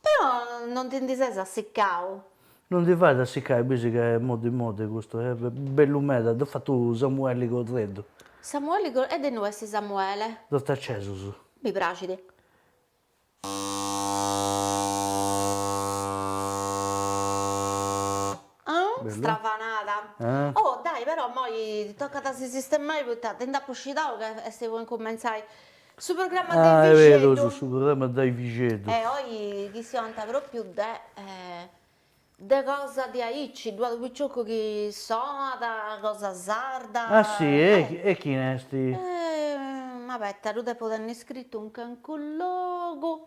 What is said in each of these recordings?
Però non ti ndi ses assicau? Non ndi fait a assicai, bisi ca est moddi moddi custu, est bellu meda, dd'at fatu Samuelli Correddu. Samuelli Correddu, e de innui est Samuele? Dd'ant acesus. Mi praxit. Strafanada. Oh, dai, però immoi tocat a si sistemai poita ti nd'apu scidau ca est po incumentzai. Su programma de Vixeddu. Ah, est berus, su programma de Vixeddu. E oi chistionant pròpiu de de cosa diaici, ddu at unu picioccu chi soat, cosa sarda. Ah si, e chini est? Ma abeta, ddu depu tenni scritu in calincunu logu.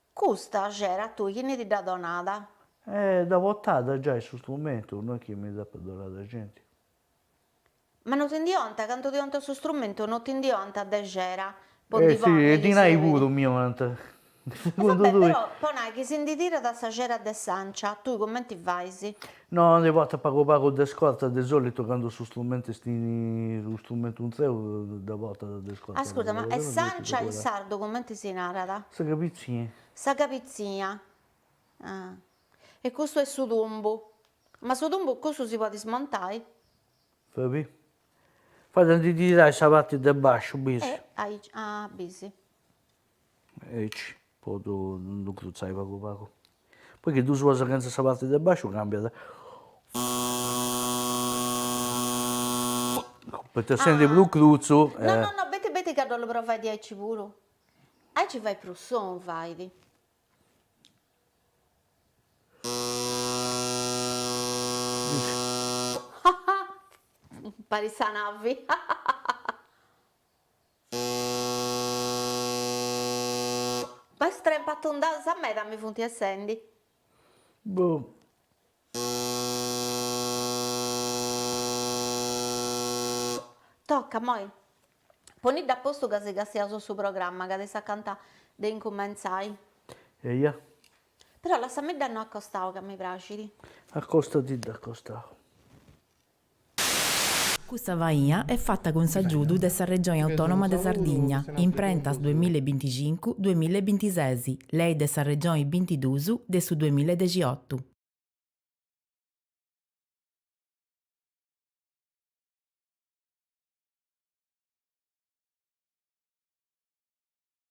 Custa xera a tui chini ti dd'at donada? E dda portada giai su strumentu, no est chi mi dd'apat donada genti. Ma no ti ndi 'onta, candu ti 'onta su strumentu no ti ndi 'onta de xera, po ndi Si, e dinai puru mi 'onant, segundu tui. Po nai chi si ndi tirat sa xera de s'ancia, tui cumenti fais? No ndi portat pagu pagu de scorta, de solitu candu su strumentu est in unu strumentu intreu dda portat de scorta. Ascurta, ma e s'ancia in sardu cumenti si narat? Sa cabitzia. Sa cabitzia, ah. E custu est su tumbu. Ma su tumbu cussu si podit smontai? Fabì. Fait a ndi tirai sa parti de basciu, bisi. E aici, ah, bisi. Aici po ddu dd'incrutzai pagu pagu. Poi chi ddu suas chentza sa parti de basciu càmbiat. Poita essendi prus crutzu. No no no, abeta abeta ca dd'ollu provai diaici puru. Aici fait prus sonu fait. Parit sa navi. Mestre in patu nd'ansa meda mi funti essendi. Boh. Tocca immoi. Ponidda a postu ca si castiaus su programma ca est acanta de incumentzai. Eia. Però lassamidda innoi a costau ca mi praxidi. Accostadidda a costau. Custa faina est fata cun s'agiudu de sa Regioni Autònoma de Sardigna, imprentas duemilla e binticincu, duemilla e bintises, lei de sa Regioni bintiduus de su duemilla e dexiotu.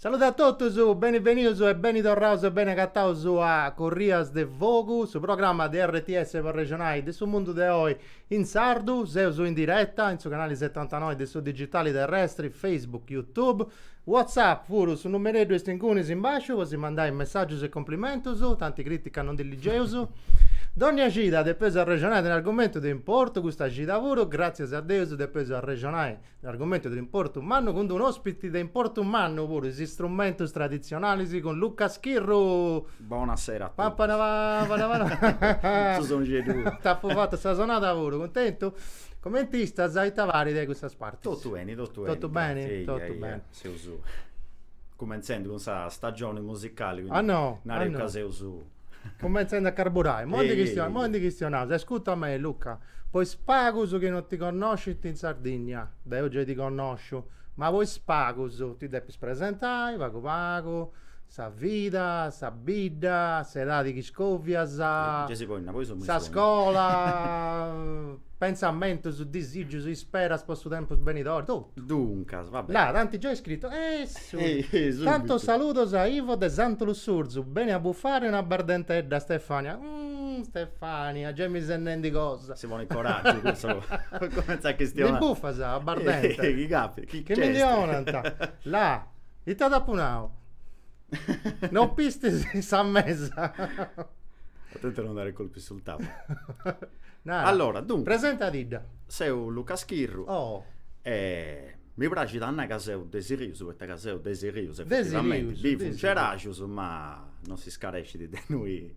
Salude a totus, beni benius e beni torraus e beni agataus a Corrias de Fogu, su programma de RTS po arrexonai de su mundu de oi in sardu. Seus in diretta in su canali setantanoi de su digitali terrestri, Facebook, Youtube. WhatsApp puru, su numereddu est ingunis in basciu po si mandai messàgius e cumplimentus, tanti crìtica non ndi ligeus. Dònnia cida depeus arrexonai de un'argumentu de importu, custa cida puru, gràtzias a Deus, depeus arrexonai de un'argumentu de importu mannu cun unu òspiti de importu mannu puru, is istrumentus traditzionalis cun Luca Schirru. Bona sera a totus. Su songieduu. T'apu fatu sa sonada puru, cuntentu? Comenti istas e ita parit de custas partis? Totu beni, totu beni. Totu beni? Gratzi, eia, Totu eia. beni. Seus cumentzendi cun sa stagioni musicali, quindi Ah, no? nareu Ah, no? ca seus Cumentzendi a carburai. Eia, Momenti chi eia. momenti chistionaus. Ascurta a mei, Luca, po is pagus chi no ti connoscint in Sardinnia, deu giai ti connosciu, ma po is pagus ti depis presentai pagu pagu. Sa vida, sa bidda, s'edadi chi iscovias, sa scola, pentzamentus, disigius, isperas po su tempus benidori, totu. Duncas, va beni. Là, t'ant giai scritu, essu! Tantus saludos a Ivo de Santu Lussurzu, beni a bufare una bardentedda, Stefania. Umm, Stefania, giai mi ses nendi cosa. Si ponit coraggiu cussa po cumentzai a chistionai. Ndi bufas a bardenta? Chi capitat, chi nc'est? Chi mi ndi 'onant? Là. Ite t'apo nau? Non pistis sa mesa? Atente a non dare colpi sul tavolo. Nara. Allora, dunque. Presentadidda. Seu Luca Schirru. Oh. E mi praxit a nai ca seu de Sirius, poita ca seu de Sirius, effettivamenti. De Sirius. Bivu in Cerajus, ma non s'iscarescit de innoi.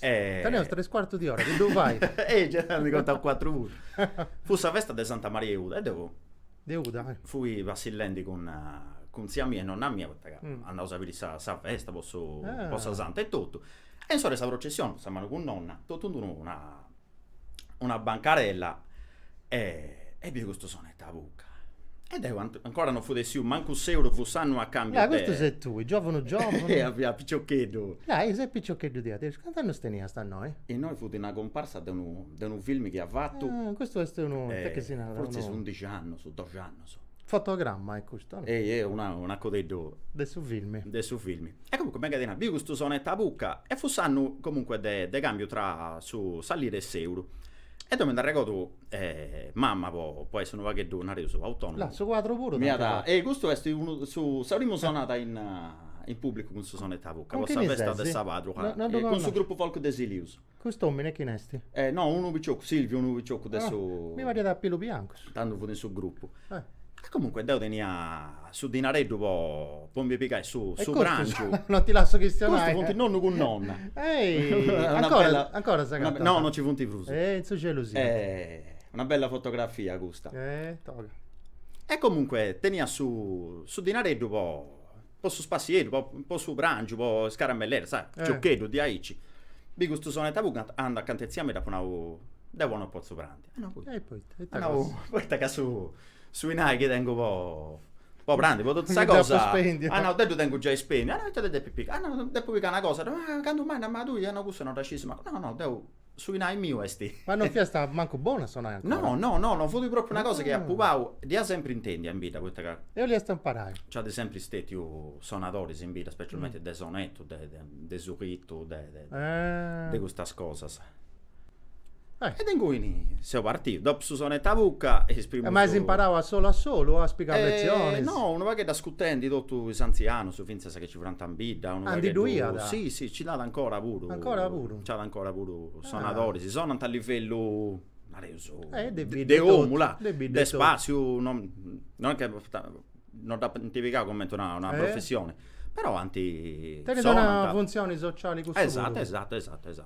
E... Teneus tres cuartus di ora, chi ddu fai? e giai nd'eus contau cuatru puru. Fut sa festa de Santa Maria 'e Uda e deu... De Uda, eh. Fui passillendi cun cun tzia mia e nonna mia poita ca andausu a biri sa sa festa po su po sa Santa e totu. E insoru a sa processioni, sa manu cun nonna, totu in d'unu na una bancarella e apu biu custu sonet'a buca e deu ancora no fut essiu mancu s'euru fut s'annu a cambiu de custu ses tui, giovunu giovunu deu fia piciocheddu ah e ses piciocheddu tia Terciu, cant'annus teniast a innoi? Innoi fut una cumparsa de unu de unu filmi chi at fatu ah custu est unu ite chi si narat fortzis undixi annus doxi annus Fotogramma est custu, no? Ehi, ehi, una, un'uncueddeddu. De su filmi. De su filmi. E comunque, mega ti nai, biu custu sonetu a bucca e fut s'annu, comunque, de de cambiu tra su sa lira e s'euru. E deu mi nd'arregodu, mama, po po essi unu pagheddu, nareus, autonomu. Là, su quadru puru t'ant fatu. Ehi, custu est unu, su, sa primu sonada in in pubblicu cun su sonetu a bucca, po sa festa de sa patru, cun su gruppu folk de Silius. Cust'omine chine esti? Eh, no, unu piciocu, Silviu, unu piciocu de su. Ah, mi pariat a pilus biancus. Tandu fut in su gruppu. Eh. E comunque deu tenia su dinareddu po po mi pigai su su prangiu. Non ti lasso chistionai. Custus funt nonnu cun nonna. Ehi! Ancora ancora s'agatant? No, non ci funt prus. E in su celu siant. Eh. Una bella fotografia custa. Eh, toga. E comunque tenia su su dinareddu po po su spassieddu, po su prangiu, po is caramelleddas, sa, giocheddus diaici. Bi custu sonetta puru cantu, candu acanta 'e tzia mia dd'apu nau, deu oi no potzu prandi. Ah no poita? At nau, poita ca su su 'inai chi tengu po po prandi, po totu sa cosa, at nau, deu ddu tengu giai spendiu, ah no ita ti depis pigai, ah no depu pigai una cosa, ah candu mai, ma tui, ah no cussa no dda scidia, no no deu Su 'inai miu est. Ma non fiast mancu bonu a sonai ancora? No, no, no, no fut propriu una cosa chi apu pau, dd'ia sempri intendi a in bidda poita ca. E 'oliast imparai. Nc'at sempri stetiu sonadoris in bidda, specialmenti de sonetu, de de sulitu, de de custas cosas. E de inguni seu partiu, dopu su sonetu a bucca e is primus. Ma as imparau a solu a solu o as pigau lezionis? No, unu pagheddu ascutendi totus is antzianus fintzas sa chi ci furant in bidda, unu pagheddu. Ah, ndi ddu iat? Si, si, nci nd'at ancora puru. Ancora puru? Nci at ancora puru sonadoris, sonant a livellu, nareus, de omu, là, de spassiu, non est chi non dd'ant pigau cumenti una professioni, però ant, sonant. Tenint una funtzioni sociali cussu puru. Esatto, esatto, esatto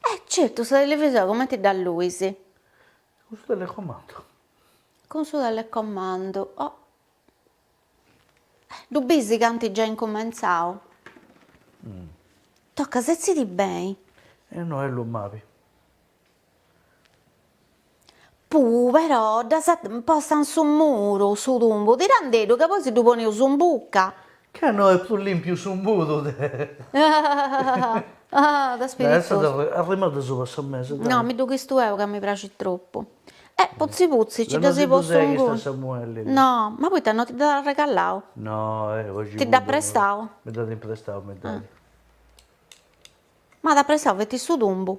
Eh certu, sa televisora cumenti dd'alluis? Cun su telecomandu. Cun su telecomandu, oh. Eh, ddu bis ca ant giai incumentzau? Tocat, setzidi beni. E no est lu mabi. Puu però dd'as postu in su muru, su tumbu, tirandeddu ca poi si ddu poneus in bucca. Ca no est prus lìmpiu su muru de. Dda essat arrimada subra sa mesa, dai. No, mi ddu chistu eu ca mi praxit tropu. E putzi putzi nci dd'as postu inguni. Deu no si ddu seghisto a Samuelli. No, ma poita no ti dd'at arregalau? No, eh, oxi. Ti dd'at prestau? Mi dd'at imprestau, mi dd'at. M'at prestau feti su tumbu.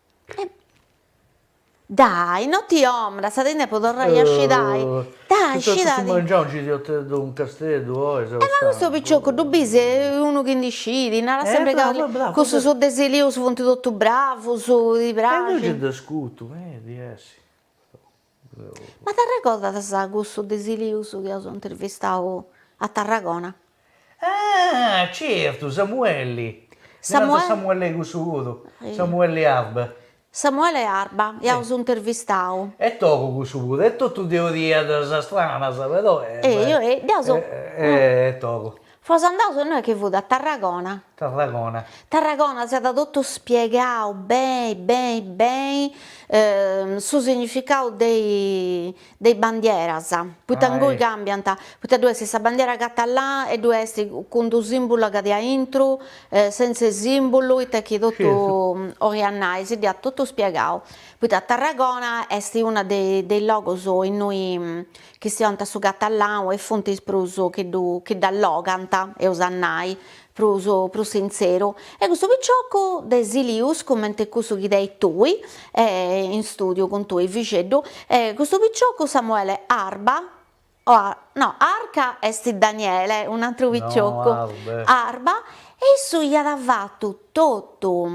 Dai, no ti dromas, ti ndi depu torrai a scidai, dai scidadì. Su mangianu nci iat unu casteddu oi sa. E ma custu picioccu ddu bis est unu chi ndi scit, narat sempri ca cussus de Silius funt totu bravus, ti praxint. E deu nci dd'ascutu meda, jessi. Ma t'arregordas cussu de Silius chi aus intervistau a Tarragona? Ah! Certu, Samuelli. Ddi narant Samuelli cussu puru, Samuelli Arba. Samuele Arba, chi aus intervistau. Est togu cussu puru, e totu teorias stranas però. E dd'aus. Est togu. Fos andaus innoi chi fut a Tarragona. Tarragona. Tarragona s'iat totu spiegau beni beni beni su significau de is bandieras, poita ingoi cambiant, poita ddoi est sa bandiera catalana e ddoi est cun d'u' simbulu a parti aintru, senza is simbulu, ita chi totu 'oiat nai, si dd'iat totu spiegau, poita Tarragona est unu de is logus innoi chi funt in su catalanu e funt is prus chi dd'allogant, eus a nai, prus prus sintzeru, e custu piciocu de Silius, cumenti cussu chi tenis tui in stùdiu cun tui Fixeddu, e custu piciocu Samuele Arba, ah no Arca est Daniele, un'atru piciocu, Arba, e issu iat fatu totu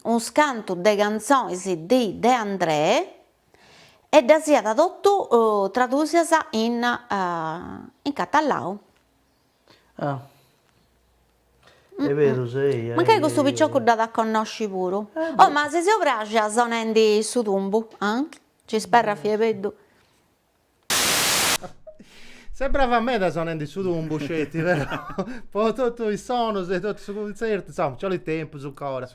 unscantu de cantzonis di De Andrè, e ddas iat totu tradùsias in in catalanu. Ah est beru sei. Mancai custu picioccu dd'at a connosci puru. Oh ma si seu pràxia sonendi su tumbu, ah? ci sperrat fia beddu. Ses brava meda sonende su tumbu, sceti, però, po totu is sonus de totu su cuntzertu, insoma, nci 'olit tempus ancora.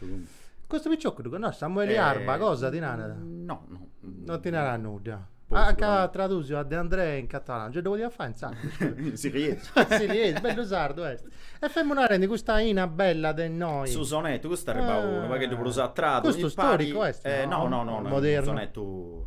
Custu picioccu ddu connosci? Samueli Arba, cosa ti narat? No, no. Non ti narat nudda? At tradùsiu a De Andrè in catalanu, no ddu podiat fai in sardu? In siliesu. In siliesu, bellu sardu est. E femu narendi custa 'ina bella de innoi. Su sonetu, custu est arribau unu pagheddu prus atrás. Custu storicu est, no? No, no, no, no, unu sonetu.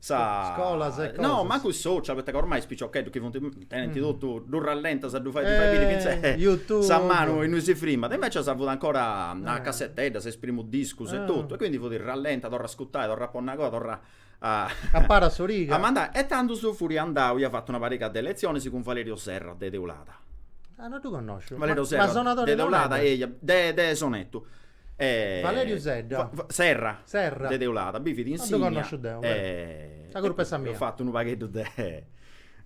Scolas e cosas. No, mancu is social, poita ca ormai is piciocheddus chi funt, tenint totu, ddu rallentas a ddu fai, ddu fai biri fintzas sa manu innui si frimat. Invecias fiat ancora a casseteddas, is primus discus e totu, e quindi fiat rallenta, torra a ascutai, torra a ponni una cosa, torra a Aparai s'origa. a mandai. E tandus fui andau, ia fatu una pariga de letzionis cun Valerio Serra de Teulada. Ah, no ddu connosciu. Valerio Serra de Teulada, eia, de de Sonetu Valeriu Sedda. Serra. Serra. De Teulada, bivit, insignat. Non ddu connosciu deu, beh. Sa curpa est sa mia. Eus fatu unu pagheddu de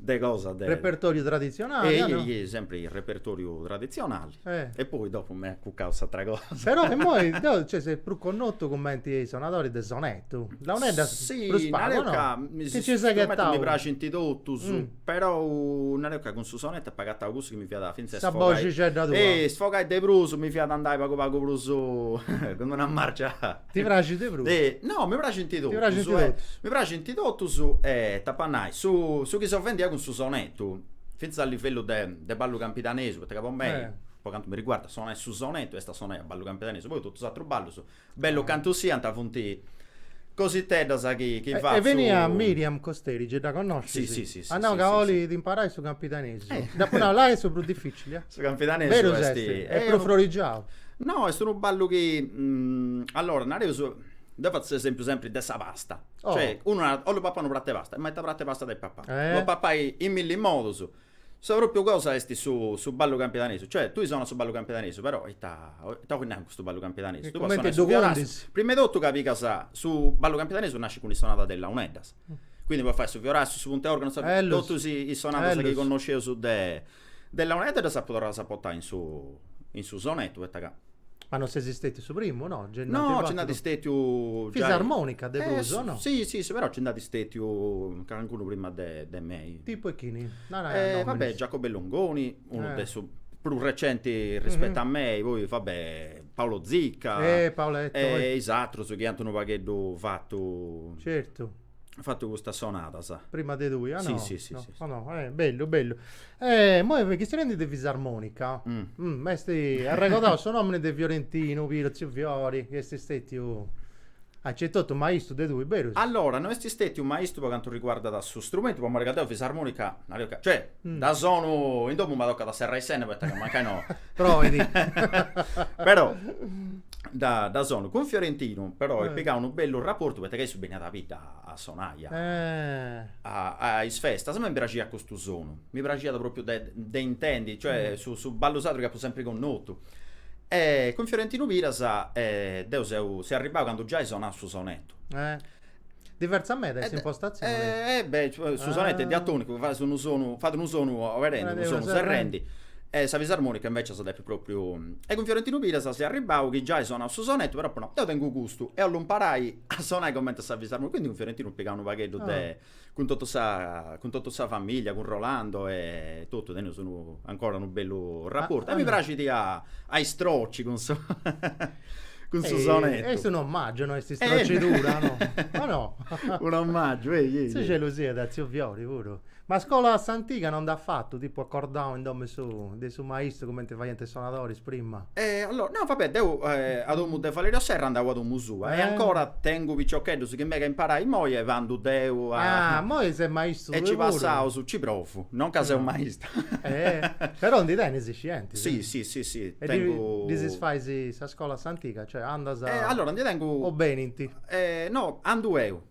de cosa de. Repertoriu traditzionali, o no? Ehi, sempri repertoriu traditzionali. E poi dopu m'at acucau s'atra cosa. Però immoi deu, cioè, seu prus connotu cumenti sonadori de sonettu. Launeddas prus pagu, o no? Chi nci seghet tau. Mi praxint totus. Però nareus ca cun su sonettu apo agatau cussu chi mi fiat fintzas Sa boxixedda tua isfogai de prus, mi fiat andai pagu pagu prus cun-d-una marcia Ti praxit de prus? No, mi praxint totus, Ti praxint totus? Mi praxint totus e t'apu a nai, su su chi seu fendi cun su sonettu, fintzas a livellu de de ballu campidanesu, poita ca po mei, po cantu mi riguardat, sonai su sonettu est a sonai a ballu campidanesu, poi totus is atrus ballus Bellus cantu siant funt cositeddas chi fatzu. Est benia Miriam Costeri, gei dda connoscis? Si, si. At nau ca olit imparai su campidanesu. Dd'apu nau, là est su prus dificili. Su campidanesu est. Berus est. Est prus frorigiau. No, est unu ballu chi, allora, nareus, deu fatzu s'esempiu sempri de sa pasta. Cioè, unu narat, 'ollu papai unu pratu 'e pasta'. Ma ita pratu 'e pasta depit papai? Dda podis papai in milli modus. Sa pròpiu cosa est su su ballu campidanesu, cioè tui sonas su ballu campidanesu, però ita ita 'ois nai cun custu ballu campidanesu, tui podis sonai su fiorassiu, prima 'e totu ca pigas su ballu campidanesu nascit cun is sonadas de is launeddas, quindi podis fai su fiorassiu, su puntu 'e organu, sa totus is sonadas chi connosceus de de launeddas ddas apu torradas a portai in su in su sonettu poita ca Ma non sesi stetiu su primu, no? Gei nd'ant No, nci nd'ant fatu- stetiu giai- Fisarmonica de Eh, prus, o no? Si, si, si, però nci nd'ant stetiu calancunu prima de de mei. Tipu 'e chini? Nara Eh, va be', Giacomo Longoni, unu de su prus recenti rispettu a mei, poi va be', Paolo Zicca Eh, Paoletto, oi E is atrus chi ant unu pagheddu fatu Certu fatu custas sonadas. Prima de tui, ah no? Sì, sì, sì, no. sì, sì. Oh, no. Eh, bellu, bellu. Eh, moi chistionendi de fisarmonica, mm. Mm, ant arregodau su nomini de Fiorentinu Piras, Ziu Fiori, chi est stetiu accentotu maistu de tui, berus? Allora, non esti stetiu maistu po cantu riguardat su strumentu, po riguardu 'e fisarmonica, cioè, mm. dda sonu in domo mi toccat a serrai s'enna, perché mancai no. Provendi. Però, dda, dda sonu cun Fiorentinu però apu eh. pigau unu bellu raportu poita ca issu beniat a bidda a sonai a, eh. a, a is festas a mei mi praxiat custu sonu mi praxiat propriu de, de intendi cioè mm. su, su ballu sardu chi apu sempri connotu e cun Fiorentinu Piras eh, deu seu, seu arribau candu giai sonau su sonetu eh. Diversa meda est s'impostatzione. Eh, eh, beh, su sonettu est diatonicu, fas unu sonu, fat unu sonu oberendi, unu sonu serrendi. E sa fisarmonica invecias depis propriu. E cun Fiorentinu Piras seu arribau chi giai sonau su sonettu, però apu nau, deu tengu custu e 'ollu imparai a sonai comente sa fisarmonica, quindi cun Fiorentinu pigau unu pagheddu de cun totu sa cun totu sa familia, cun Rolando e totu, teneus unu ancora unu bellu rapportu a mi praxit a a istroci cun su cun su sonetu. Est unu omàgiu, no est istrocidura, no? O no? Unu omàgiu, ehi, ehi. In su celu siat tziu Fiori puru. Ma scola a s'antiga non nd'as fatu, tipu acordau in domu 'e su de su maistu cumenti faiant is sonadoris prima? E allora, no, vabbè, deu eh, a domu de Valerio Serra andau a domu sua e eh. ancora tengu piciocheddus chi mega imparai moi e vandu deu a... Ah, moi ses maistu E si spassiaus, ci provu, non ca seu maista. Eh, però ndi tenis is scientis. Sì, sì, sì, sì, tengu... E ddis fais sa scola a s'antiga, cioè andas... E allora, ndi tengu... O benint? Eh, no, andu eu.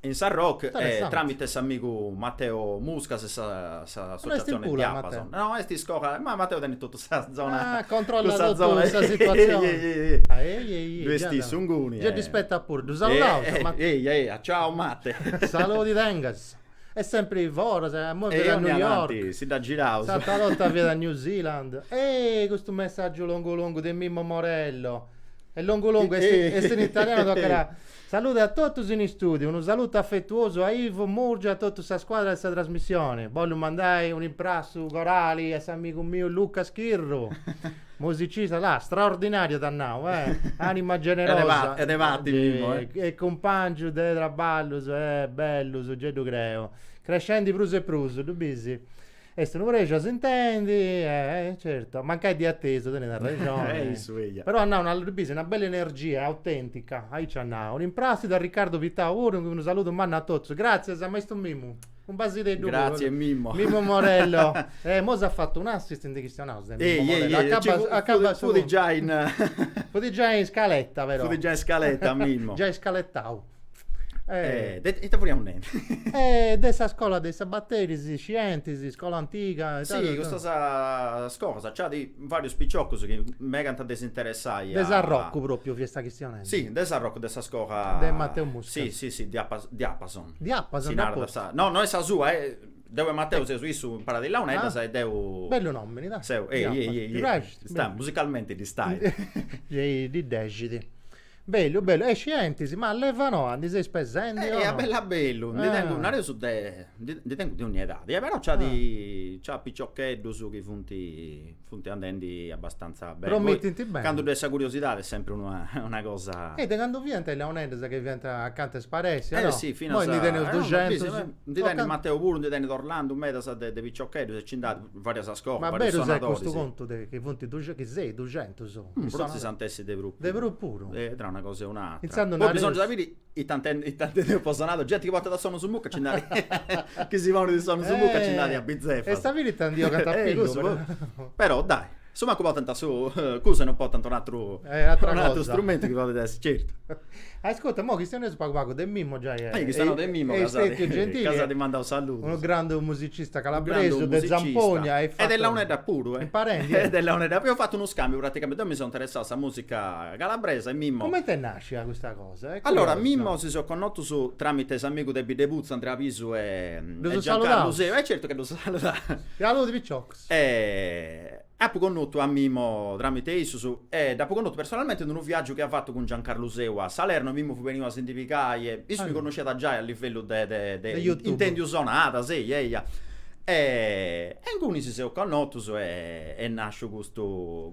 in Sarroch tramite s'amigu Matteo Muscas e sa s'associazione Diapason. No, est iscola, ma Matteo tenit totu sa zona. Ah, controllat totu sa situazione. Ddu est issu inguni. Gei ddi spettat puru, ddu saludaus a Matteo. Eia, eia, ciao Matte. Saludi tengas. Est sempri foras, imoi fiat a New York. Si dda girat. S'atra 'orta fiat a New Zealand. Ehi, custu messaggiu longu longu de Mimmo Morello. Est longu longu, est in italianu tocat a Salude a totus in istùdiu, unu salutu afetuosu a Ivo Murgia e a totu sa scuadra de sa trasmissioni. Bollu mandai un'imprassu corali a s'amigu miu Luca Schirru, musicista, là, straordinàriu t'at nau, eh, ànima generosa e cumpàngiu de traballus, eh, bellus, gei ddu creu, crescendi prus e prus, ddu bisi? Est unu prexu a s'intendi, eh, certo. Mancai de atesu, tenet arrexoni. Eh, issu, eja. Però at nau una, ddu bisi, una bella energia, autèntica, aici at nau. Imprassidu a Ricardo Pittau puru, unu saludu mannu a totus. Gràtzias a maistu Mimmu. Un basideddu puru. Gràtzias, Mimmo. Mimmo Morello. Eh, imoi s'at fatu un'assist ndi chistionaus de Mimmo Morello. Ehi, ehi, ehi, ehi, acabat su. Fut giai in. Fut giai in scaletta, però. Fut giai in scaletta, Mimmo. Giai scaletau. E ita fiaus nendi? E de sa scola de is sabateris, scientis, iscola antiga. Si, custas cosas, nci at varius piciocus chi megant de s'interessai. De Sarrocu propriu fiat sa chistioni. Si, de Sarrocu de sa scola. De Mateu Muscas. Si, si, si, diapason. Diapason. Si narat sa. No, no est sa sua, deu e Mateu seus issu imparat is launeddas e deu. Bellu nomini, dai. Seu, ehi, ehi, ehi. Ti praxit? Musicalmenti ddi stai. Ddi dexit. Bellu bellu, e scientis, ma leva noa ndi seis pesendi o no? A bellu a bellu, ndi tengu, nareus, de, ndi tengu de ogni edadi, però nc'at nc'at piciocheddus chi funt funt andendi abastanza beni, promittint beni, candu ddoi est sa curiosidadi est sempri una cosa. E de candu fiant is launeddas chi fiant acanta 'e isparessi o no? Eh si finas, imoi ndi teneus duxentus, ndi tenit Mateu puru, ndi tenit Orlandu medas de piciocheddus e nci nd'at Varias iscolas, varius sonadoris. Ma beru custu contu de chi funt duxentus, chi seis duxentus? Prus ant essi de prus. De prus puru? E tra una cosa e un'atra. Poi bisongiat a biri ita ita intendeus po sonadori. Genti chi portat is sonus in buca nci nd'at, chi si ponit is sonus in buca nci nd'at a bitzefas. A sa fini ita ndi bogant a pillu. Però dai Su mancu portant cussu e non portant un atru strumentu chi podit essi certu. Ascurta, imoi chistioneus pagu pagu de Mimmo giai. E chistionau de Mimmo ca s'at mandau saludus. Unu grandu musicista calabresu de zampogna e de launeddas puru est imparendi. E de launeddas, eus fatu unu scambiu praticamenti, deu mi seu interessau a sa musica calabresa e Mimmo. Cumenti est nascia custa cosa? Allora Mimmo si seus connotus tramite s'amigu de Biddeputzu Andrea Pisu e Giancarlu Seu. E certu ca ddus saludaus. Saludi piciocus. E apu connotu a Mimmo tramite a issus e dd'apu connotu personalmente in unu viàgiu chi at fatu cun Giancarlu Seu a Salerno, Mimmo fut beniu a si ndi pigai e issu mi connosciat giai a livellu de de intèndiu sonadas, eia, eia. E inguni si seus connotus e est nàsciu custu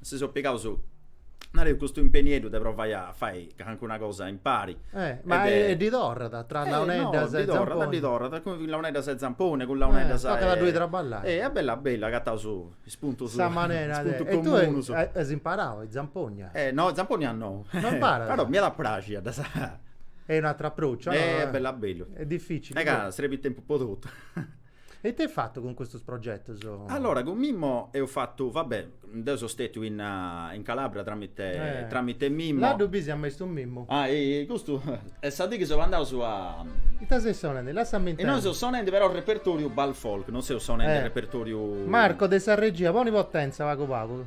si seus pigaus, nareus, custu impenieddu de provai a fai calincuna cosa impari. Eh, ma e ddi torrat, tra launeddas e zamponi? Eh, no, ddi torrat, ddi torrat, cun launeddas e zamponi, cun launeddas e... Eh, tocat a ddoi traballai. Eh, a bellu a bellu, agataus is puntus, is puntus comunus. E tui as imparau a is zampognas? Eh, no, zampognas no. No imparas? Però m'iat a praxi a ddas. Est un'atru aprociu. Eh, a bellu a bellu. Est dificili. Ca, srebit tempus po totu. E ita eis fatu cun custus progetus? Allora, cun Mimmo eus fatu, va bè, deu seu stètiu in in Calabria tramite tramite Mimmo. Là ddu bis a maistu Mimmu. Ah, custu est sa dì chi seus andaus a. Ita seis sonendi? Lassami intendi. Innoi seus sonendi però a repertoriu Bal Folk, non seus sonendi a repertoriu. Marco de sa regia, poni potenza pagu pagu.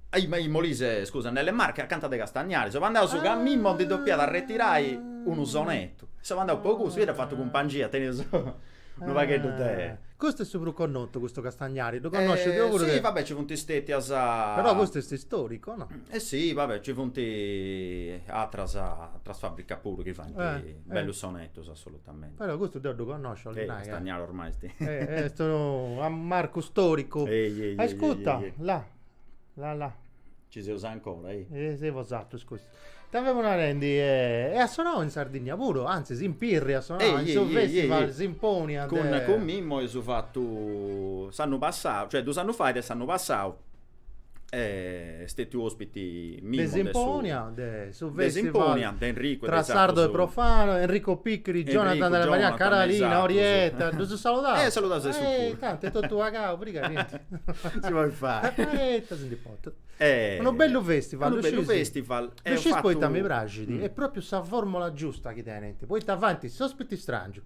In Molise, scusa, nelle Marche, acanta de Castagnari. Seus andaus ca Mimmo ndi depiat arretirai unu sonetu. Seu andau po cussu, dd'ia fatu cumpangia, teniaus unu pagheddu de. Custu est su prus connotu, custu Castagnari, ddu connosciu deu puru de. Si, va bè, ci funt stètias. Però custu est istoricu, o no? E si, va bè, ci funt atras atras fabricas puru chi faint bellus sonetus, assolutamente. Però custu deu ddu connosciu, 'olit nai. Castagnari ormai est. Est unu marcu storicu. Ehi ehi ehi ehi ehi. Ascutta, là. La la. Ci seus ancora, ehi. E seus sartus custu. Ita femus narendi, e at sonau in Sardinnia puru, antzis in Pirri at sonau, in su festival Simponia de. Cun cun Mimmo eus fatu s'annu passau, cioè dus annus fait e s'annu passau est stetiu ospiti de Simponia, de su festival tra sardo e profano, Enrico Picchiri, Jonathan Della Marianna, Carolina, Orietta, ddus saludaus? Eh, saludaus a issus puru. Tanti est totu pagau, prus ca nenti. Si podit fai. Poita si ndi potut. Unu bellu festival, ddu scius? Unu bellu festival, eus fatu. Ddu scius poita mi praxit, est propriu sa formula giusta chi tenint, poita faint is ospitis strangius,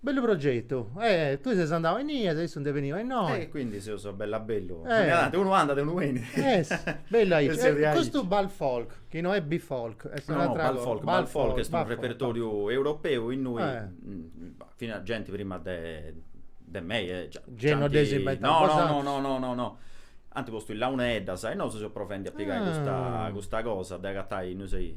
Bellu progetu, e tui ses andau a innì e issu nd'est beniu a innoi. E quindi seus a bellu a bellu, narant unu andat e unu benit. Est bellu aici, e custu Bal Folk, chi no est B-Folk, est un'atra cosa. No, no, Bal Folk est unu repertoriu europeu innui finas genti prima de de mei e già. Gei no dd'eis inventau bosatrus. No, no, no, no, ant postu is launeddas e nosu seus provendi a pigai custa cosa de agatai, no sciu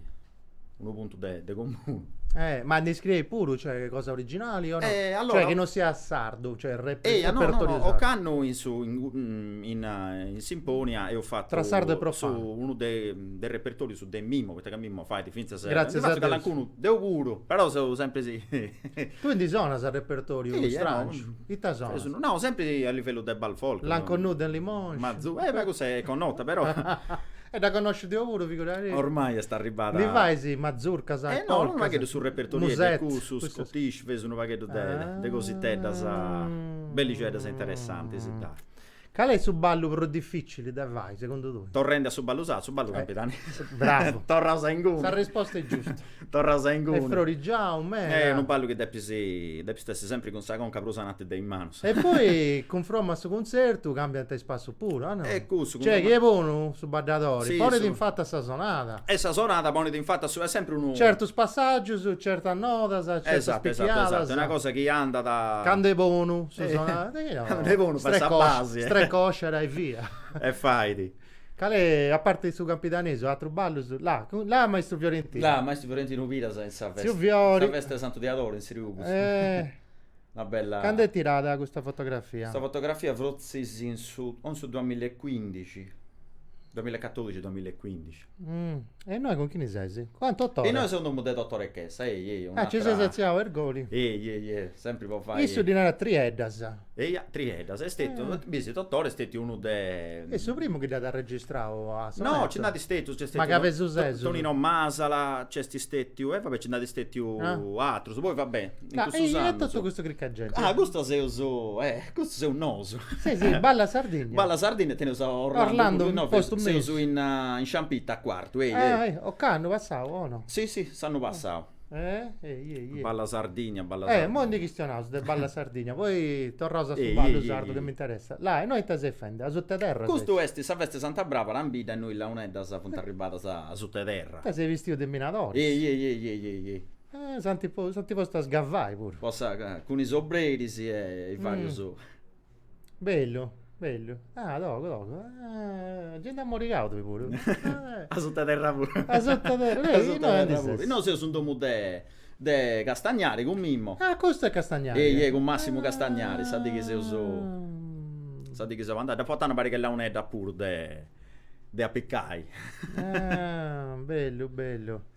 unu puntu de, de comunu. Eh, ma ndi scrieis puru, cioè, cosa originali o no? Eh, allora... Cioè, che non sia sardu, cioè, rep- Eia, no, no, repertorio no, sardu. ocannu in su in, mm, in, eh, in Simponia eus fatu Tra sardo e profano. su unu de, de repertoriu su de Mimmo, poita ca Mimmo fait finzas eh, Gràtzias ndi a fatzu Deus. calancunu deu puru, però seu sempri si Tui ndi sonas a repertoriu Sì, eh, no, strangiu? mm, Ita Eus sonas? unu- no, sempri a livellu de Bal Folk. Lanconnuda in Limoscia. Mazu- eh, ma cussa est connota, però. E dda connoscis deo puru, figuraris. Ormai est arribada. Ddu fais mazurcas, polcas. No, unu pagheddu su repertoriu est de cussus, scottish, fais unu pagheddu de cositeddas bellixeddas e interessantis, dai. Cali est su ballu prus dificili de fai, segundu tui? Torrendi a su ballu sardu, su ballu campidanesu. Bravu. Torraus a inguni. Sa risposta est giusta. Torras a inguni. Est frorigiau meda. Eh, unu ballu chi depis, depist essi sempri cun sa conca prus ainanti de is manus. E poi cunfromma a su cunzertu cambiant is passus puru, a no? E cussu. Cioè chi est bonu su baddadori. Si, su. Ponit in fatu a sa sonada. E sa sonada ponit in fatu a su, est sempri unu. Certus passaggius, certas nodas, certas picchiadas. Esattu, esattu, esattu, est una cosa chi andat. Candu est bonu su sonada. Candu est bonu fait sa basi. Strecosciada e via. E fait. Cali, a parti su campidanesu, atrus ballus? Là, là maistru Fiorentinu. Là, maistru Fiorentinu Piras in sa festa. Tziu Fiori. In sa festa 'e Santu Diadori in Siurgus. Eh. Una bella. Candu est tirada custa fotografia? Custa fotografia frotzis in su, o in su duamillecuindixi, duamillecatorixi, duamillecuindixi. E innoi cun chini ses? Ah, Totore. Innoi seu in domu de Totore Chessa, ehi, ehi, un'atra. Ah, nci ses atziau a Irgoli. Ehi, ehi, ehi, sempri po fai. Issu ddi narat trieddas. Eia, Trieddas, est stetiu, Bisi, Totore est stetiu unu de. Est su primu chi dd'at arregistrau a sonetu. No, nci nd'at stetus, nc'est stetiu. Ma ca pesu sesu. Tonino Masala, nc'est stetiu, e va bè, nci nd'at stetiu atrus, poi va bè, in cussus annus. E totu custu crica 'e genti. Ah, custu seus, eh, custu seus nosu. Si, si, Balla Sardigna. Balla Sardigna, teneus a Orlando, no, seus in Sciampita a Cuartu, eia, eia. Ocannu passau, o no? Si, si, s'annu passau. Eh, ehi, ehi, ehi. Balla Sardigna, Balla Sardigna. Eh, immoi ndi chistionaus de Balla Sardigna, poi torraus a su ballu sardu chi m'interessat. Là, e innoi ita ses fendi, asuta 'e terra ses? Custu est sa festa 'e Santa Bràbara, in bidda e innoi launeddas funt arribadas asuta 'e terra. Ita seis bistius de minadoris? Ehi, ehi, ehi, ehi, ehi, ehi. Eh, s'ant, s'ant postu a scavai puru. Po sa, cun is obreris e varius. Bellu, bellu. Ah, docu, docu. Ah, eh, gente ammorigadu bi puru. Eh, A sutta terra puru. A sutta terra, A eh, sutta innoi terra ndi puru. ses. Innoi seus in domu de de Castagnari cun Mimmo. Ah, custu est Castagnari. Ehi, ehi, cun Massimu Castagnari, sa dì chi seus, Ah. sa dì chi seu andau. Dd'apu fata una pariga 'e launeddas puru de de apicai. Ah, bellu, bellu.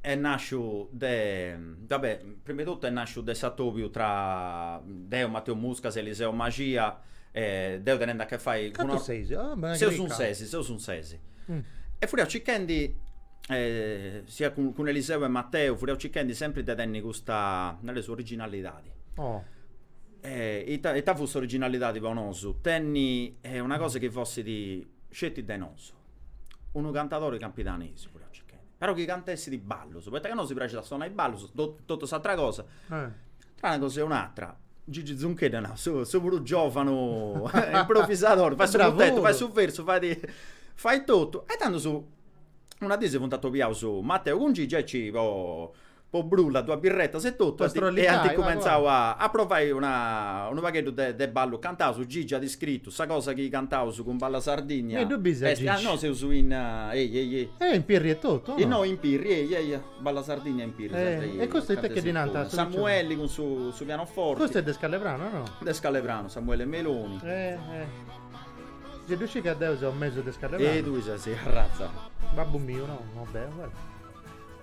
Est nàsciu de, va bè, prima 'e totu est nàsciu de s'atobiu tra deu, Mateu Muscas e Eliseo Mascia, deu tenende a che fai cun Cantus seis? Ah b'est una cricca! Seus in ses, seus in ses. E fuiaus circhendi, sia cun cun Eliseo e Mateu, fuiaus circhendi sempri de tenni custa, nareus, originalidadi. Oh. E ita ita fut s'originalidadi po nosu? Tenni una cosa chi fessit sceti de nosu. unu cantadori campidanesu fut a circai, però chi cantessit ballus, poita ca nosi praxit a sonai ballus, totu s'atra cosa, tra una cosa e un'atra, Gigi Zuncheddu at nau, seu seu puru giovanu improvisadori, fait su puntetu, fait su versu, fait fait totu, e tandus una dì si funt atobiaus Mateu cun Gigi aici po po brulla duas birretas e totu e ant cumentzau a provai unu pagheddu de ballu cantau Gigi at scritu sa cosa chi cantaus cun Balla Sardigna est no seus innoi in Pirri e totu o no in Pirri e Balla Sardigna in Pirri e custu ita chi ddi nant Samueli cun su pianoforti custu est de Scallepranu o no de Scallepranu Samuele Meloni si ddu scit ca deu seu mesu de Scallepranu e tui ses arratzau babbu miu no no deu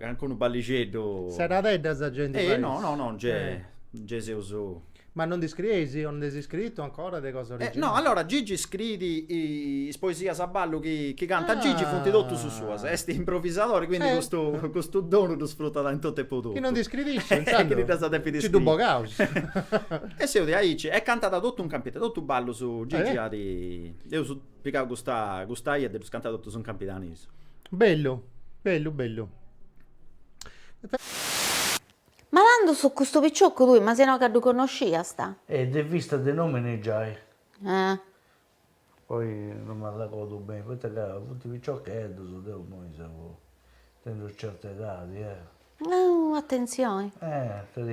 Ancora unu ballixeddu. Seradedda sa genti fais. No, no, no, ge, ge seus. Ma non ndi scrieis, o nd'eis iscritu ancora de cosa originali? No, allora Gigi scriit is poesias a ballu chi, chi cantat Gigi funt totus suas, est improvisadori, quindi custu, custu donu ddu sfrutat in totu e po totu. Chi non ndi scriit, intzandus. Chi ddas depit iscriri. Nci ddu bogaus. E seus diaici, e cantat totu in camp, totu ballus Gigi at. Pigau custa custa bia e ddus cantat totus in campidanesu. Bellu, bellu, bellu. Ma tandus custu piciocu tui, ma si no ca ddu connosciast. E de vista de nomini giai. Eh. Poi no m'arregodu beni, poita ca funt piciocheddus, deu imoi seu, tengiu certa edadi, eh. Nau atentzioni.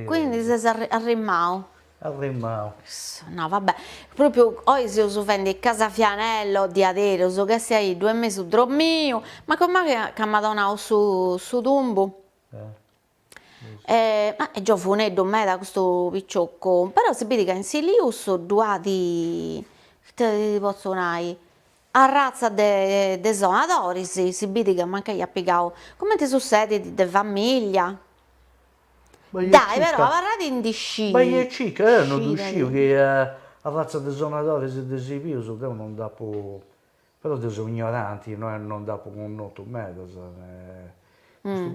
Quindi ses arrimau. Arrimau. Issa, nau, va bè. Propriu oi seus fendi Casafianello, diaderus, ca est a iddu, est mesu dromiu, ma comenti ca m'at donau su su tumbu. E ma est giovuneddu meda custu piciocu, però si bidi ca in Silius ddu at, ita ti potzu nai, Arratza de de sonadoris si bidit ca mancai at pigau, cumenti sussedit, de famìllia. Dai però abarrat de ndi sciri. Cica, deu non ddu sciu chi arratza de sonadoris ddi si pius, deu non dd'apu, però deu seu ignoranti, no est, non dd'apu connotu medas,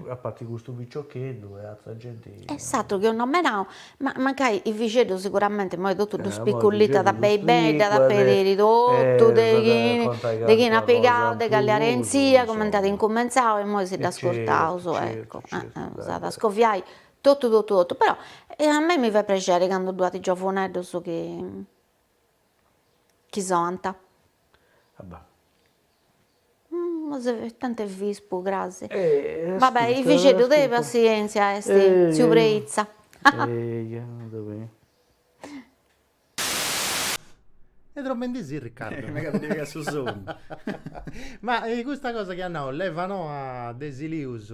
a parti custu piciocheddu e atra genti. E s'atru chi apu nomenau, ma mancai is fueddus siguramente imoi totu ddus pibincat beni beni, dd'at a pediri totu de de chini at pigau, de cali arèntzia, cumenti at incumentzau e imoi si dd'ascurtaus, eccu, dd'at a scoviai totu totu totu, però a mei mi fait prexeri candu ddu at giovuneddus chi Chi sonant. Abba. Tanti bispu cras. Va bè i fixeddu de passièntzia est tziu Preitza. Est dromendi si Riccardo. Megat a ddi pigai su sonnu. Ma custa cosa chi at nau Levanoa de Silius.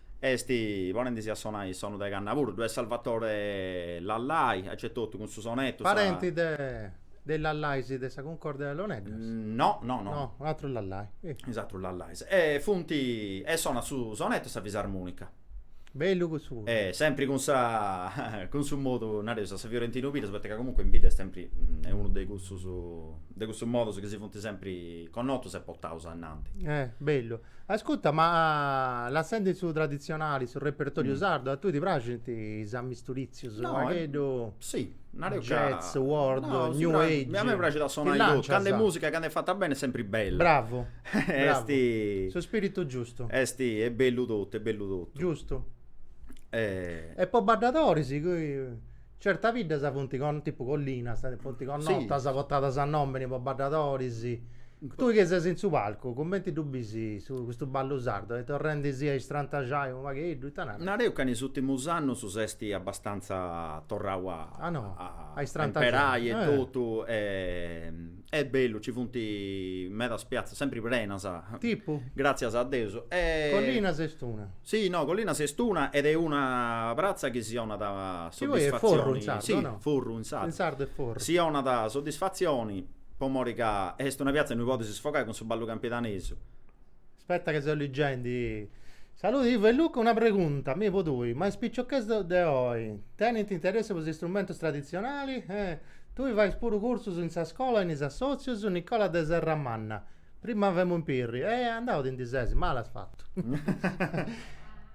Est, ponendisi a sonai is sonu de canna puru, ddu est Salvatore Lallai, aici etotu cun su sonettu, sa. Parenti de de Lallai si de sa Cuncordia de Launeddas? No, no, no. No, u' atru Lallai. Is atrus Lallais. E funti, e sonat su sonettu e sa fisarmonica. Bellu cussu puru. E sempri cun sa, cun su modu, nareus, a sa Fiorentinu Piras, poita ca comunque in bidda est sempri, est unu de cussus, de cussus modus chi si funti sempri connotus e portaus ainnanti. Eh, bellu. Ascuta, ma lassendi su traditzionali, su repertòriu sardu, a tui ti praxint is amisturìtzius, unu pagheddu, jazz, world, new age? A mei mi praxit a sonai totu, candu est mùsica, candu est fata beni est sempri bellu. Bravu, bravu, su spiritu giustu. Est, est bellu totu, est bellu totu. Giustu. E po baddadoris? Certas biddas funt con tipu Collinas, funt connotas, portadas a nomini po baddadoris. Tui chi ses in su palcu, cumenti ddu bisi custu ballu sardu? Est torrendisi a istrantaxai unu pagheddu, ita naras? Nareus ca in is ùrtimus annus s'esti abbastanza torrau a a a a imperai e totu e E bellu, ci funt medas piatzas, sempri prenas. Tipu? Gràtzias a Deus. Collinas est una. Si, no, Collinas est una ed est una pratza chi si 'onat Chi poi est Forru in sardu, o no? Si, Forru in sardu. In sardu est Forru. Si 'onat soddisfatzioni po mori ca est una piatza innui podis sfogai cun su ballu campidanesu. Aspetta ca seu liggendi. Saludi Ivo e Luca, una pregunta mi po tui, ma is picioches de oi tenint interessu po is istrumentus traditzionali? Eh, tui fais puru cursus in sa scola e in is assòtzius Nicola de Serramanna, prima femu impirri, eh andau ti ndi ses, mali as fatu.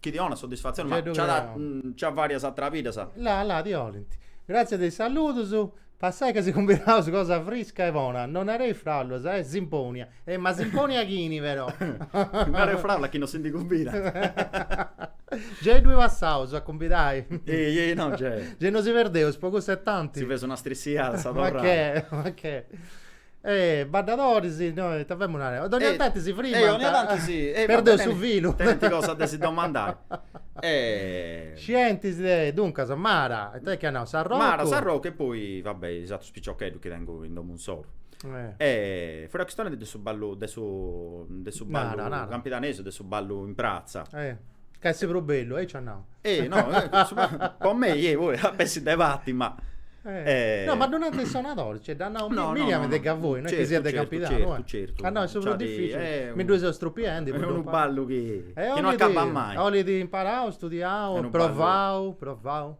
Chi ti 'onat soddisfatzione, ma gei ddu nci creu. nci at varias atera biddas. La, la, ti 'olint. Gràtzias de is saludus. Passai, ca si cumbidaus cosa frisca e bona. No nareis fàulas, est simpònia. E ma simpònia chini, però? Nareu fàulas chi no si ndi cumbidat. Gei ddui passaus a cumbidai? Ei, ei, no gei. Gei no si perdeus, po cussa e tanti. Si feus una strissiada a sa torrada. Ma che, ma che. Eh, baddadoris, no ita femus narendi, dogna tanti si frimant. Eh, ogna tanti si. Perdeus su filu. Tenint cosas de si domandai. Scientis de, duncas, Mara, ita est chi at nau, Sarrocu. Mara, Sarrocu e poi, va bè, is atrus piciocheddus chi tengu in domu insoru. E furat chistionendi de su ballu, de su, de su ballu campidanesu, de su ballu in pratza. Ca est prus bellu, aici at nau. Eh, no, po mei, eh, poi a pessi de parti, ma... Eh, no, ma ddu nant in Sanadori, cioè, dd'at nau Miriam de ca fui, no est chi siat de Campidanu, eh. Certu, ca no, est su prus dificili, mi ddu seu strupiendu, po ddu imparau. Est unu ballu chi non acabat mai. 'olit imparau, studiau, provau, provau.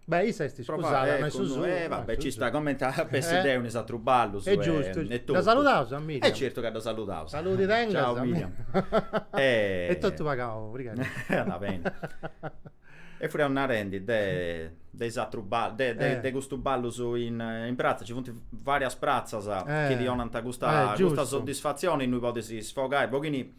Beh, issa est iscusada, no est su suo. E va bè, ci sta, comente a pessi deu in is atrus ballus. E giustu, e totu. Dda saludaus a Miriam? E certu ca dda saludaus. Saludi tengas. Ciau Miriam. E totu pagau, brigada. Andat beni. E furriaus narendi de de is atrus ballus, de de custu ballus in in pratza, ci funt varias pratzas chi ti 'onant custa custa soddisfatzioni innui podis sfogai u' poghini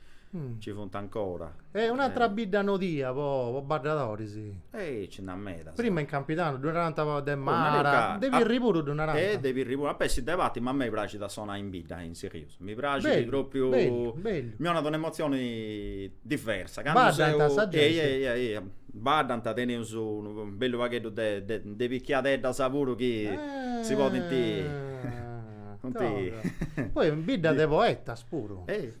Ci funt ancora. Est un'atra bidda nodia po po baddadoris. Ehi ci nd'at medas. Prima in Campidanu ddu narant de Mara, de Pirri puru ddu narant. E de Pirri puru, a pessi de parti, ma a mei praxit a sonai in bidda in Silius, mi praxit propriu, mi 'onat una emotzioni diversa, candu seu. Baddant sa genti. Ehi ehi ehi, baddant, teneus unu bellu pagheddu de de de piciocheddas puru chi si podint. Funt. Poi in bidda de poetas puru. Ehi.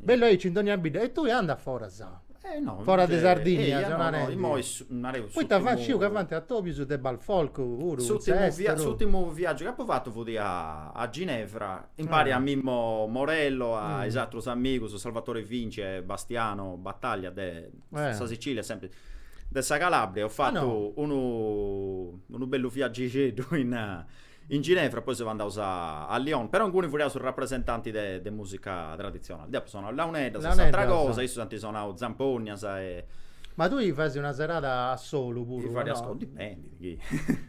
Bellu aici in dogna bidda. E tui anda foras. Eh no. Foras de Sardigna, eia, no, no, narendi. immoi su- nareu Poita s'ùrtimu- faint, sciu ca faint atòbius de balfolk puru, in s'èsteru. S'ùrtimu viaggiu chi apu fatu fut a a Ginevra, impari a Mimmo Morello, a is atrus amigus, Salvatore Vinci e Bastiano Battaglia de sa Sicilia e sempri de sa Calabria. Eus fatu unu unu bellu viaggixeddu in In Ginevra, poi seus andaus a a Lyon, però inguni furiaus rapresentantis de de musica traditzionali. Deu apu sonau launeddas e s'atra Launeddas. cosa, issus ant sonau zampognas e. Ma tui chi fais una serada a solu puru, no? Fadiaus cun, dipendit chi.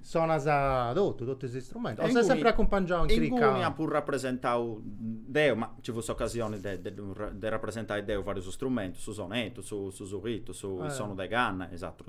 Sonas totu, totu is istrumentus, o ses sempri acumpangiau in crica? Inguni apu rapresentau deu, ma nci fut s'ocasioni de de de rapresentai deu varius strumentus, su sonetu, su su sulitu, su is sonus de canna e is atrus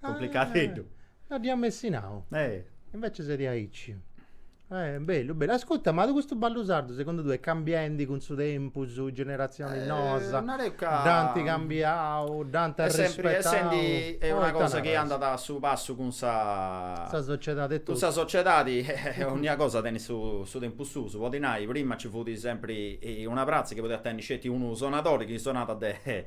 Cumplicateddu. No dd'ia m'essi nau. Eh. Invece est aici. Eh, bellu, bellu. Ascutta, ma custu ballu sardu segundu tui est cambiendi cun su tempus, is generazionis noas? Nareu ca. Dd'ant cambiau, dd'ant arrispettau. Est sempri essendi e una cosa chi andat a su passu cun sa. Sa sociedadi e totu. Cun sa sociedadi e onnia cosa tenit su tempus suu. Podi nai, prima nci fut sempri una pratza chi podiat tenni sceti unu sonadori chi sonat de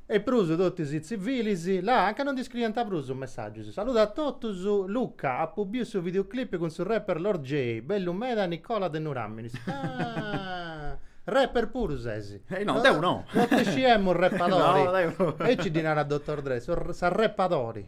E prus totus is tzìbiris, là, anca no ndi scriiant prus us messàgius. Saludat a totus. Luca, apu biu su videoclip cun su rapper Lord Jay, bellu meda Nicola de Nuràminis. Ah! Rapper puru ses? Eh no, deu no! No ti sciemus repadori. No, deu no. Aici ddi narant Dottor Dre, s'arrepadori.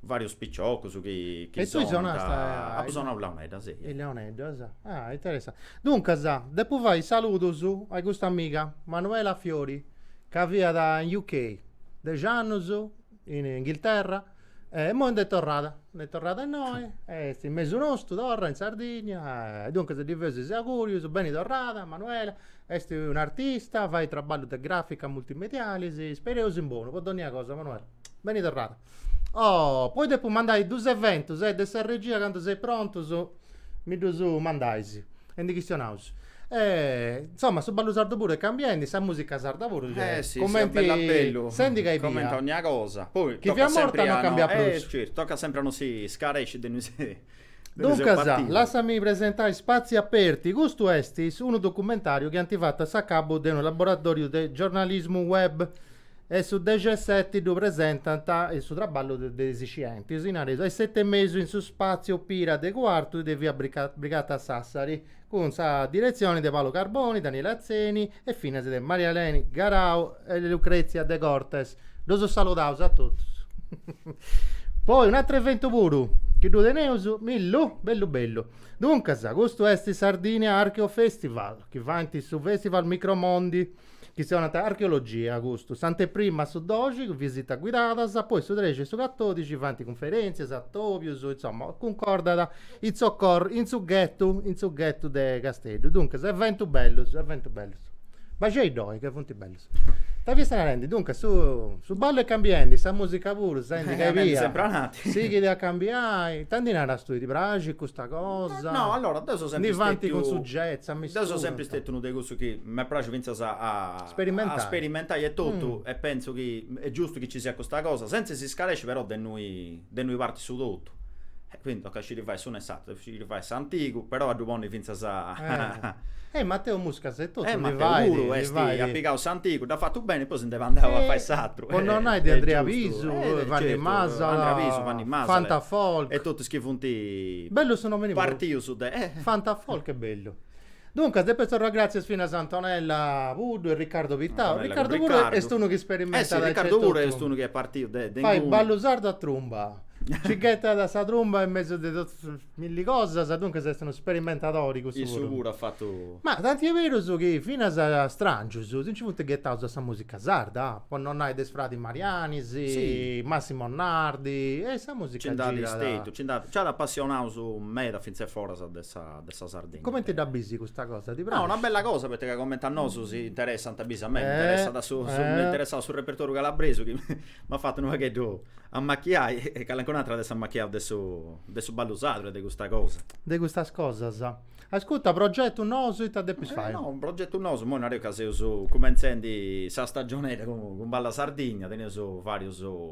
Vàrius piciocus chi chi sonant. E tui sonasta. Apu sonau is Launeddas, eia. Is Launeddas, ah interessante. Duncas, depu fai is saludus a custa amiga, Manuela Fiori, ca fiat in UK dexi annus, in Inghilterra, e immoi nd'est torrada, nd'est torrada innoi, est in mesu nostu torra, in Sardigna, e duncas ddi faeus is augurius, beni torrada Manuela, est un'artista, fait traballus de grafica multimedialis, ispereus in bonu po donnia cosa Manuela, beni torrada. Oh, poi depu mandai duus eventus e de sa regia candu seis prontus mi ddus mandais e ndi chistionaus. E insoma su ballu sardu puru est cambiendi, sa musica sarda puru gei. Eh si, si 'olit bellu bellu, coment'e dogna cosa. Poi chi fiat morta non cambiat prus. Eh certu, tocat sempri a no si scaresci de innui seus partiu. Duncas, lassai-mì presentai Spazi Aperti, custu est unu documentariu chi ant fatu a s'acabu de unu laboratoriu de giornalismu web e su dexi e seti ddu presentant, su traballu de is scientis, si naraus, a is seti e mesu in su spàtziu Opira de Cuartu de via Brigata Sassari, cun sa diretzioni de Paolo Carboni, Daniele Atzeni e finas de Maria Eleni Garau e Lucrezia Degortes. Ddus saludaus a totus. Poi un'atru eventu puru chi ddu teneus, mi-ddu. Bellu bellu. Duncas, custu est Sardinia Archeofestival, chi faint su Festival Micromondi, chi si 'onant archeologia, custu, s'anteprima a su doxi, cun visitas guidadas, poi su trexi e su catodixi faint cunferèntzias, atobius, insoma, cuncordant in s'ocorr, in su ghetu, in su ghetu de Casteddu. Duncas, eventus bellus, eventus bellus. Baxei-ddoi ca funt bellus. Ita fiaus narendi, duncas, su su ballu est cambiendi, sa musica puru, senti ca ebbia, sighit a cambiai, ita ndi naras tui, ti praxit custa cosa, ndi faint cun su jazz, ammisturant. M'est pràxiu fintzas a a sperimentai etotu e pentzu chi est giustu chi nci siat custa cosa, sentz'e s'iscaresci però de innui de innui partit su totu. E quindi tocat a sciri fai s'unu e s'ateru, sciri fai s'antigu, però a ddu ponni fintzas a E Mateu Muscas etotu ddu fait, ddu fait. E Mateu puru est, at pigau s'antigu, dd'at fatu beni e poi si nd'est andau a fai s'ateru. Po non nai de Andrea Pisu, Vanni Masala, Andrea Pisu, Vanni Masala, Fantafolk, e totus chi funt bellu su nomini puru, partius de, Fantafolk est bellu. Duncas depu torrai gratzias finas a Antonella Puddu e Riccardo Pittau. Antonella cun Riccardu puru est unu chi sperimentat e nc'est totu. Riccardu puru est unu chi est partiu de inguni. Fait ballu sardu a trumba. Nci ghetat sa trumba in mesu de totu is milli cosas, duncas est unu sperimentadori cussu puru. Issu puru at fatu. Ma tanti est berus chi finas strangius si nci funt ghetaus a sa musica sarda, po non nai de is fradis Mariani, Massimo Nardi e sa musica girada. Nci nd'at stetiu, nci nd'at, nci at apassionaus meda fintzas foras de sa. de sa Sardegna. Comente dda bisi custa cosa? Ti praxit? No, una bella cosa poita ca comente a nosu si interessant, bisi a mei mi interessat su, m'est interessau su repertoriu calabresu chi m'at fatu unu pagheddu ammachiai e calencun'atera at essi ammachiau de su de su ballu sardu e de custa cosa. De custas cosas. Ascurta, progetus nous ita depis fai? No, unu progetu nou, imoi nareus ca seus cumentzendi sa stagionedda cun Balla Sardìnnia, teneus varius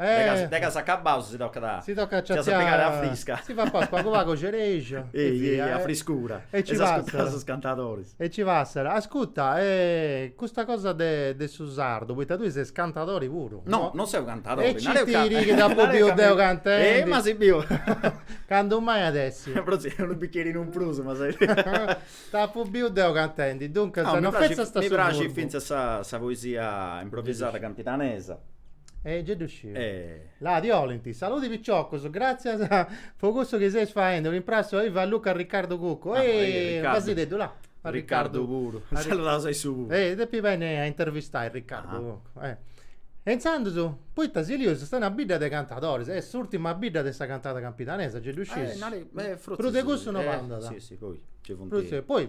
Eh. Deghe s'acabaus si tocat a. Si tocat a ciaciai. Fias a pigare a frisca. Si fat pagu pagu pagu cereja. Ehi ehi a friscura. E ci passat. E s'ascurtànt sos cantadoris. E ci passat. Ascurta, e custa cosa de de su sardu, poita tui ses cantadori puru. No, non seu cantadori. E gei est chi t'apo biu deu cantendi. Ehi ma si biu. Candu mai at essi. Pro si unu bicherinu in prus ma ses. T'apo biu deu cantendi, duncas no fetzas. Mi praxit fintzas sa poesia improvisada campidanesa. E gei ddu sciu. E. La ti 'olint. Saludi piciocus, gratzias po cussu chi seis faendi, un imprassu a Ivo, a Luca Riccardu Cuccu. Ah, e e Riccardu. Fasideddu, la. A Riccardu puru. A Riccardu. Saludaus a issu puru. E depi benni a intervistai Riccardu Cuccu. Ah. E intzandus, poita Silius est una bidda de cantadoris, est s'urtima bidda de sa cantada campidanesa, gei ddu scius. Ah, e nareis, e frotzis. Prus de cussu no b'andat. Si, si, poi, gei funt. Prus de, poi.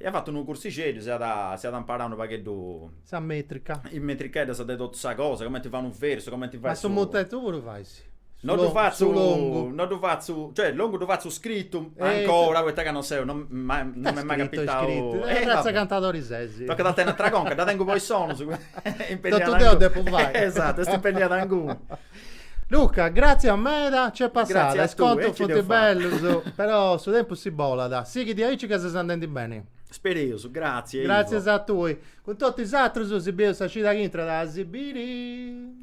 Iat fatu unu cursixeddu, si at imparau unu pagheddu. Sa mètrica. Is metricheddas de totu sa cosa, cumenti fai unu versu, cumenti fai su. Ma su mutetu puru fais? No ddu fatzu. Su longu. No ddu fatzu, cioè longu ddu fatzu scritu, ancora, poita ca non seu, non m'est mai capitau. Scritu, scritu. E fintzas cantadori ses. Tocat a tenni atera conca, dda tengu po is sonus. Totu deu depu fai. Esatu, est impenniada inguni. Luca, gràtzias meda, nc'est passada, is contus funt bellus, però su tempus si bolat, sighi diaici ca ses andendi beni. Spereus, gràtzias Ivo. Gràtzias a tui. Cun totu is atrus si bieus sa cida chi intrat a si biri.